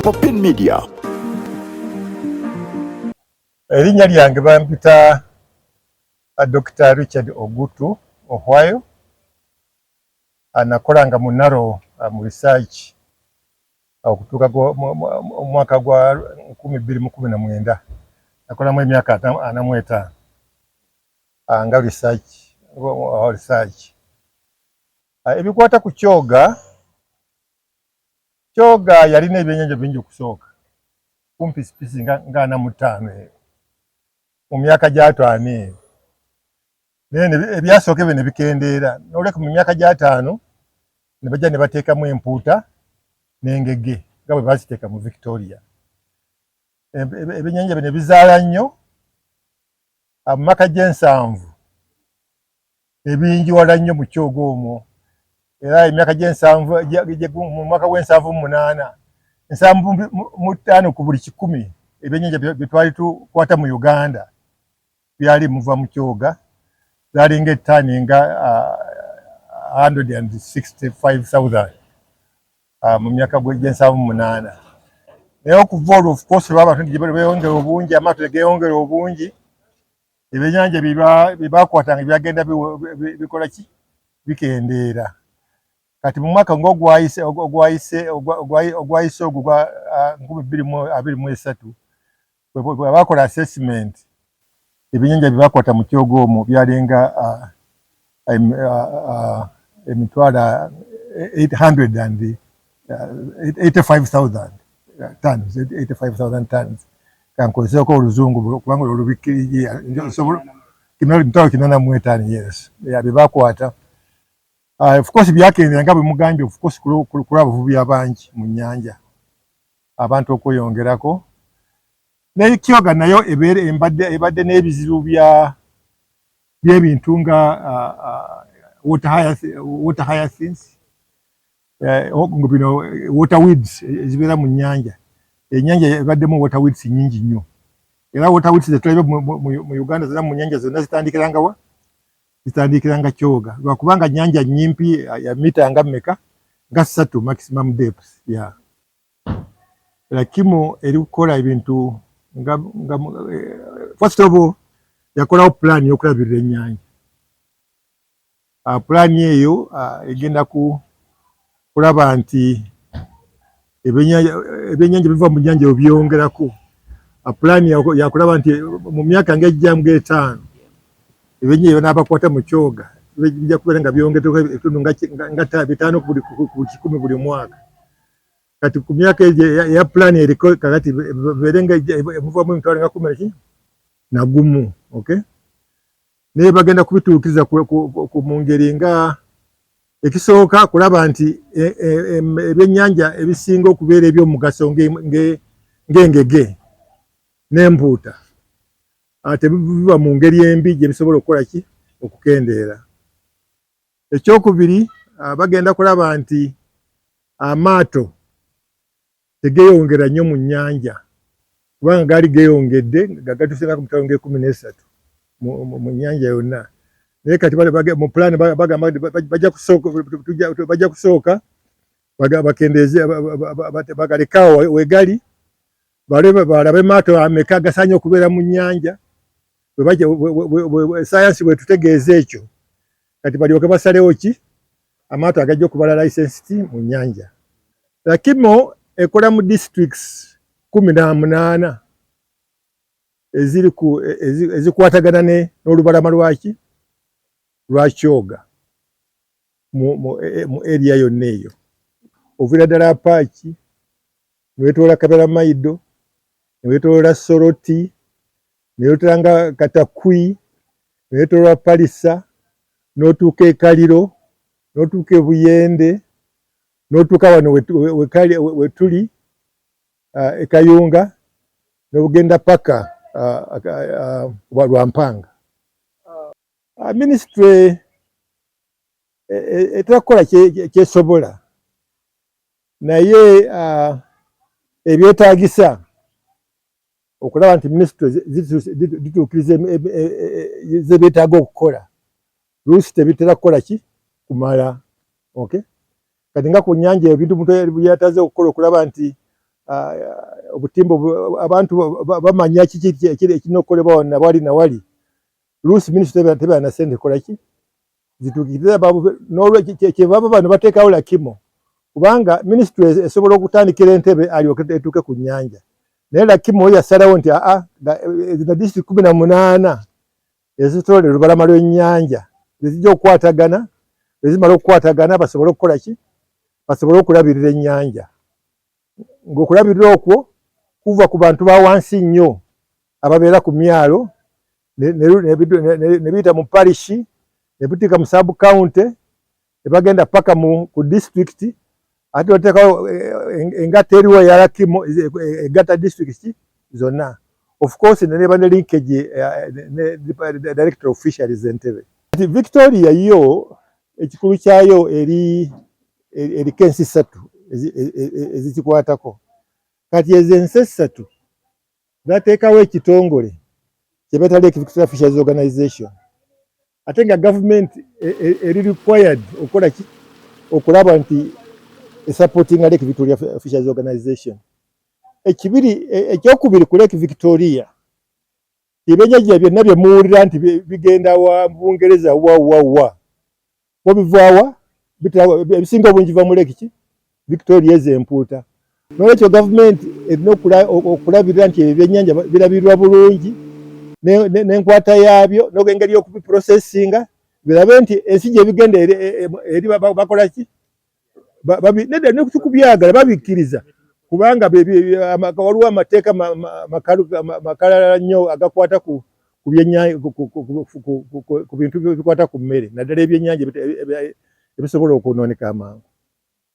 Popin Media. Erinnya lyange bampita uh, Dr. Richard Ogutu Ohwayo anakola nga munaro uh, mu research uh, okutuuka omwaka gwa nkumi bbiri mu kumi na mwenda nakolamu emyaka ana mu etaano nga research research Ah, ebikwata ku kyoga kyoga yalina ebyenyanja bingi okusooka kumpi sipisi nga, nga ana mu ttaano eyo mu myaka gy'ataano eyo naye ebyasooka ebyo ne bikendeera nolweka mu myaka gy'ataano ne bajja ne bateekamu empuuta n'engege nga bwe baziteeka mu victoria ebyenyanja bino bizaala nnyo ah, mu maka gy'ensanvu ebingi wala nnyo mu kyogo omwo era emyaka gy'ensanvu mu mwaka gw'ensanvu mu munaana ensanvu mu ttaano ku buli kikumi ebyennyanja bye twali tukwata mu uganda byali muva mu kyoga byalinga ettaani nga 165000 mu myaka gy'ensanvu mu munaana naye okuva olwo ofukoosi lw'abantu beyongera obungi amaato tegeyongera obungi ebyennyanja bye baakwatanga byagenda bikola ki bikendeera kati mu mwaka ng'ogwayise ogwayise ogwayise ogwo gwa ah, nkumi bbiri mu abiri mu esatu bwe baakola assessment ebyennyanja bye baakwata mu kyogo omwo byalinga ah, emitwalo tons kankozeeko oluzungu kubanga olwo olubikkirigi emitwalo kinana mu etaano yes byebakwata ah, of course byakendera nga bwemugambye of course kulwa abavubi abangi mu nyanja abantu okweyongerako naye kyoga nayo ebeera embadde ebadde n'ebizibu bya by'ebintu nga water hyacinths eh, oh, bino eh, water weeds eh, ezibeera mu nnyanja ennyanja ebaddemu water weeds nyingi nnyo era water weeds zetulabe mu uganda zona mu nnyanja zonna zitandikiranga wa zitandikiranga kyoga lwakubanga nnyanja nyimpi ya mita nga mmeka nga ssatu maximum depth ya yeah. lakimu eri kukola ebintu nga nga eh, first of all yakolawo pulaani y'okulabirira ennyanja ah, pulaani eyo ah, egenda ku kulaba nti ebyennyanja biva mu nnyanja ebyo byongerako ah, pulaani yakulaba nti mu myaka nga ejjamu ng'etaano ebyennyanja ebinaabakwata mu kyoga bijja kubeera nga byongeddeko ebitundu nga bitaano ku buli kikumi buli mwaka kati ku myaka egyo eya pulaani eriko kakati beere nga emuvamu emitwalo nga kumi naki nagumu ok naye bagenda kubituukiriza mu ngeri nga ekisooka kulaba nti e, e, e, ebyennyanja ebisinga okubeera ebyomugaso ng'engege n'empuuta ah, tebiva mu ngeri embi gye bisobola okukola ki okukendeera Ekyokubiri uh, bagenda kulaba nti amaato tegeyongera nnyo mu nnyanja kubanga gaali geyongedde nga gatuusenaku mu mitwalo ng'ekumi n'esatu mu nnyanja yonna naye kati mu pulaani bagamba bajja kusooka bakendeeze bagalekaawo wegali balabe maato ameka agasaanye okubeera mu nnyanja sayansi bwetutegeeza ekyo kati balyoke basalewo ki amaato agajja okubala license ti mu nyanja lakimo ekola mu districts kumi na munaana ezikwatagana ne n'olubalama lwaki lwa kyoga mu e, e, area yonna eyo ovira ddala apaaki newetoola kabera maido newetoola soroti neyotera nga katakwi neyetolwa palisa notuuka ekaliro notuuka ebuyende notuuka wano wetuli uh, ekayunga nobugenda paka uh, uh, lwampanga minisitule e, e, etera kukola kyesobola naye ebyetagisa okulaba nti minisitule zituukiriza ze beetaaga okukola luusi tebitera kukola ki kumala ok kati nga ku nyanja eyo bintu omuntu yataze okukola okulaba nti ah, obutimba abantu bamanya kiki ekirina okukolebwa wonna bwali na wali luusi minisitule tebeera na sente kola ki zituukirire babuve n'olwekyo kyebava bano bateekawo lakimo kubanga minisitule esobola okutandikira entebe alyoke etuuke ku nnyanja naye lakimo yasalawo nti aa zino disitulikiti kumi na munaana ezitole olubalama lw'ennyanja ezijja okukwatagana ezimala okukwatagana basobole okukola ki basobole okulabirira ennyanja ng'okulabirira okwo kuva ku bantu ba wansi nnyo ababeera ku myalo ne biyita mu parishi ne buteeka mu sub county ne bagenda paka ku disitulikiti ate oteekawo eh, engatta eriwo eyalakimu egatta disitulikiti zonna of course neba ne linkage eh, ne director of fisheries entebe victoria yo ekikulu kyayo eri eriko ensi ssatu ezikikwatako kati ezo ensi essatu zateekawo ekitongole kyebeta lake victoria fishers organization ate nga government e, e, eri required okola ki okulaba nti esupporting lake victoria fishers organization ekibiri e, ekyokubiri ku lake victoria Ebyenjajja byonna bye muwulira nti bigenda wa Bungereza wa wa wa wabivaawa ebisinga obungi va mu lekiki Victoria ezo empuuta. N'olwekyo gavumenti erina okulabirira nti ebyennyanja birabirwa bulungi n'enkwata yaabyo n'engeri y'okubiprosesinga birabe nti ensi gye bigenda eri e, e, e, bakola ki nedda nekubyagala babikkiriza kubanga waliwo amateeka makalala nnyo agakwata ku bintu bikwata ku mmere naddala ebyennyanja ebisobola okwonooneka amangu